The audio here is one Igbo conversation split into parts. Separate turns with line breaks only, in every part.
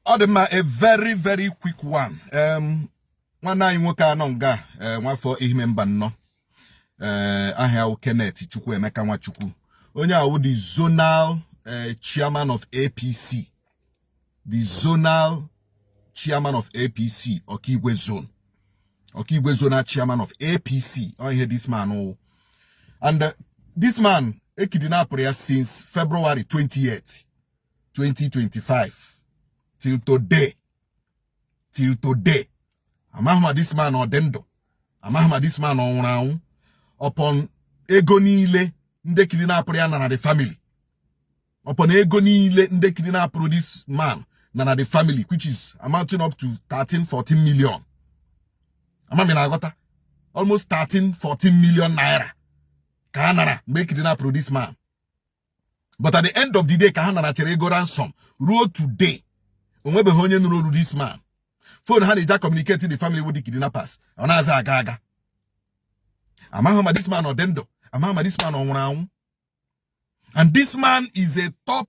ọ dị mma a very very quick one um, nwanne anyị nwoke a nọ nga eh, nwafọ Ehime Mbano eh, aha ya wụ Kenneth Chukwuemeka Nwachukwu onye a wụ the zonal eh, chairman of APC the zonal chairman of APC Okigwe zone Okigwe zonal chairman of APC ọ ihe this man wụ and this man e kidnapụrụ ya since February 28 2025 till today till today amaghị ma this man ọ dị ndụ amaghị ma this man ọ nwụrụ anwụ upon ego niile ndị kidnapụrụ ya nara the family upon ego niile ndị kidnapụrụ this man nara the family which is amounting up to 13 14 million ama m ị na-aghọta almost 13 14 million naira ka ha nara mgbe e kidnapụrụ this man but at the end of the day ka ha narachara ego ransom ruo today onwebeghị onye nụrụ olu this man phone ha na-eji communicate the family with the kidnappers ọ naghịzi aga aga amaghị ma this man ọ dị ndụ amaghị ma this man ọ nwụrụ anwụ and this man is a top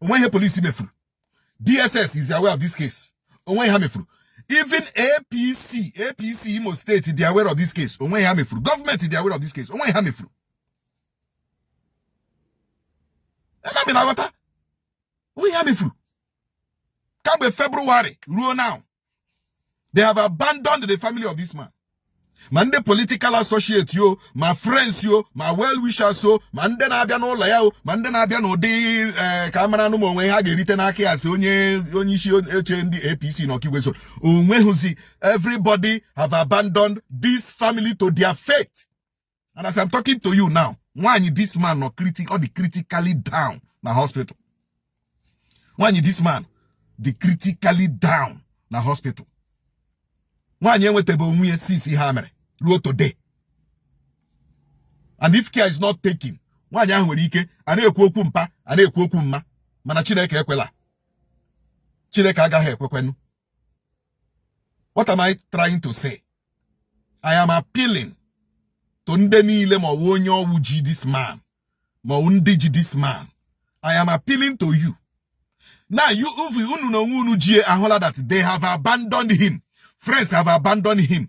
onwe ihe police mefuru dss is aware of this case onwe ha mefuru even apc apc imo state dị aware of this case onwe ha mefuru government dị aware of this case onwe ha mefuru ama m ị na-aghọta onwe ha mefuru kamgbe february ruo now they have abandoned the family of this man ma ndị political associate ya o ma friends ya o ma well wishers o ma ndị na-abịa n'ụlọ ya o ma ndị na-abịa n'ụdị eh, ka a maranụ ma o nwe ihe ha ga-erite n'aka ya as onye onye isi oche ndị APC na Okigwe zone onweghịzi everybody have abandoned this family to their fate and as I'm talking to you now nwaanyị this man nọ critic ọ dị critically down na hospital nwaanyị this man dị critically down na hospital nwaanyị enwetebe onwe ya since ihe a mere ruo today and if care is not taken nwaanyị ahụ nwere ike a na-ekwu okwu mpa a na-ekwu okwu mma mana Chineke ekwela Chineke agaghị ekwekwenụ what am I trying to say I am appealing to ndị niile ma ọ wụ onye ọ wụ ji this man ma ọ wụ ndị ji this man I am appealing to you now you unu na onwe unu ji ya ahụla that they have abandoned him friends have abandoned him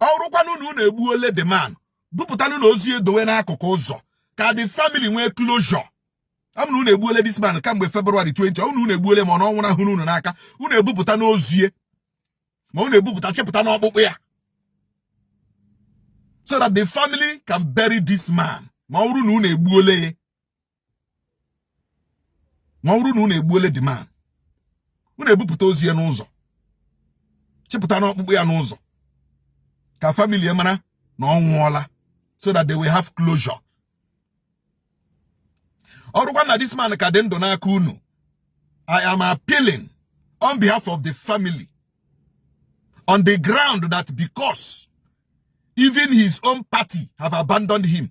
ọ wụrụkwanụ na unu egbuole the man bupụtanụnụ ozu ya dowe n'akụkụ ụzọ ka the family nwee closure ọ na unu egbuole this man kamgbe February 20 ọ na unu egbuole ma ọ na ọ nwụnahụrụ unu n'aka unu ebupụtanụ ozu ya ma unu ebupụta chịpụtanụ ọkpụkpụ ya so that the family can bury this man ma ọ wụrụ na unu egbuole ya ma ọ bụrụ na unu egbuole the man unu ebupụta ozi ya n'ụzọ chịpụtanụ ọkpụkpụ ya n'ụzọ ka family ya mara na ọ nwụọla so that they will have closure ọ bụrụkwa na this man ka dị ndụ n'aka unu I am appealing on behalf of the family on the ground that because even his own party have abandoned him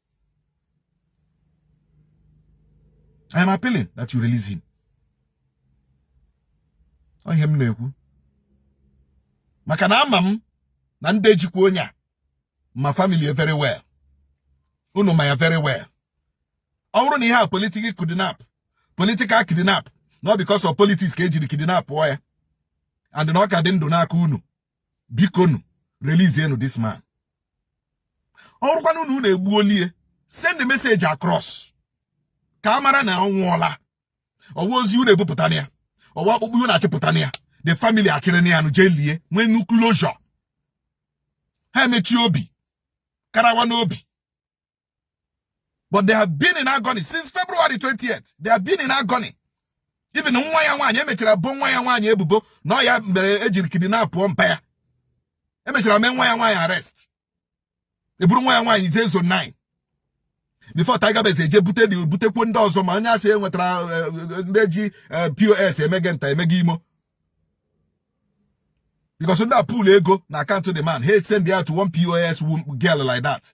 I am appealing that you release him. Ọ ihe m na-ekwu maka na ama m na ndị jikwa onye a ma family ya very well unu ma ya very well ọ wụrụ na ihe a wụ political kidnap political kidnap not because of politics ka e jiri kidnap ya and na ọ ka dị ndụ n'aka unu bikonụ release enụ this man ọ wụrụkwanụ unu unu egbuole ya send message across ka a mara na ọ nwụọla ọ wụ ozi unu ebupụtanụ ya ọ wụ ọkpụkpụ unu achịpụtanụ ya the family achịrịnụ ya nụ jee lie nweenụ closure ha emechi obi karawanụ obi but they have been in agony since February 20th they have been in agony even nwa ya nwaanyị e mechara bo nwa ya nwaanyị ebubo na ya mere e jiri kidnapụọ mpa ya e mechara mee nwa ya nwaanyị arrest e buru nwa ya nwaanyị jee zone 9 before Tiger Base eje bute dị butekwu ndị ọzọ ma onye a sị e nwetara eh, eh, ndị ji eh, POS emege nta emege imo because ndị a pull ego na account the man he send ya to one POS girl like that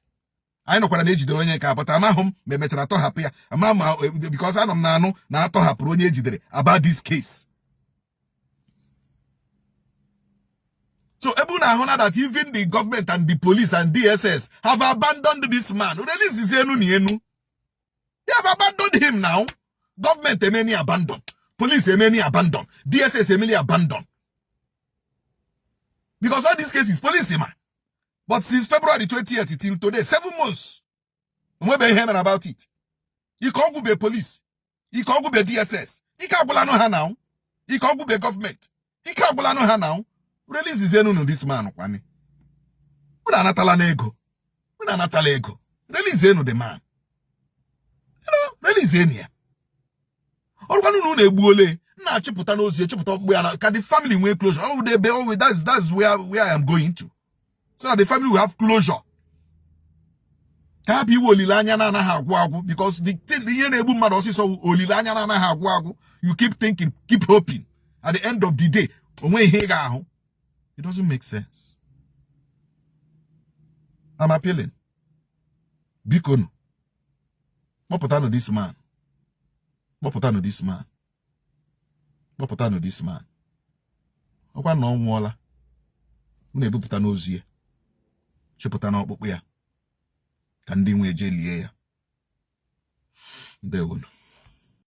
anyị nụkwara na e jidere onye nke a but amaghị m ma e mechara tọhapụ ya ama ma e, because anọ m na-anụ na a tọhapụrụ onye e jidere about this case so ebe unu ahụna that even the government and the police and DSS have abandoned this man releasezienụ ya nụ they have abandoned him now government emeni abandon police emeni abandon DSS emeni abandon because all these cases police ma but since February 20th till today seven months o nwebe ihe e mere about it ike ọ gwụbe police ike ọ gwụbe DSS ike agwụlanụ ha now ike ọ gwụbe government ike agwụlanụ ha now releasezienụnụ this man kwanụ unu anatalanụ ego unu anatala ego release enụ the man you know release enụ ya ọ wụrụkwanụ na unu egbuole unu achịpụtanụ ozi ya chịpụta ọkpụkpụ ya nụ ka the family nwee closure ọ wụda ebe ọ wụ that's that's where where I am going to so that the family will have closure ka ha bụ inwe olileanya na-anaghị agwụ agwụ because the thing ihe na-egbu mmadụ ọsịsọ olileanya na-anaghị agwụ agwụ you keep thinking keep hoping at the end of the day o nwe ihe ị ga-ahụ it doesn't make sense I'm appealing bikonụ kpọpụtanụ this man kpọpụtanụ this man kpọpụtanụ this man ọkwa na ọ nwụọla unu ebupụtanụ ozu ya chịpụtanụ ọkpụkpụ ya ka ndị nwe ya je lie ya ndewonu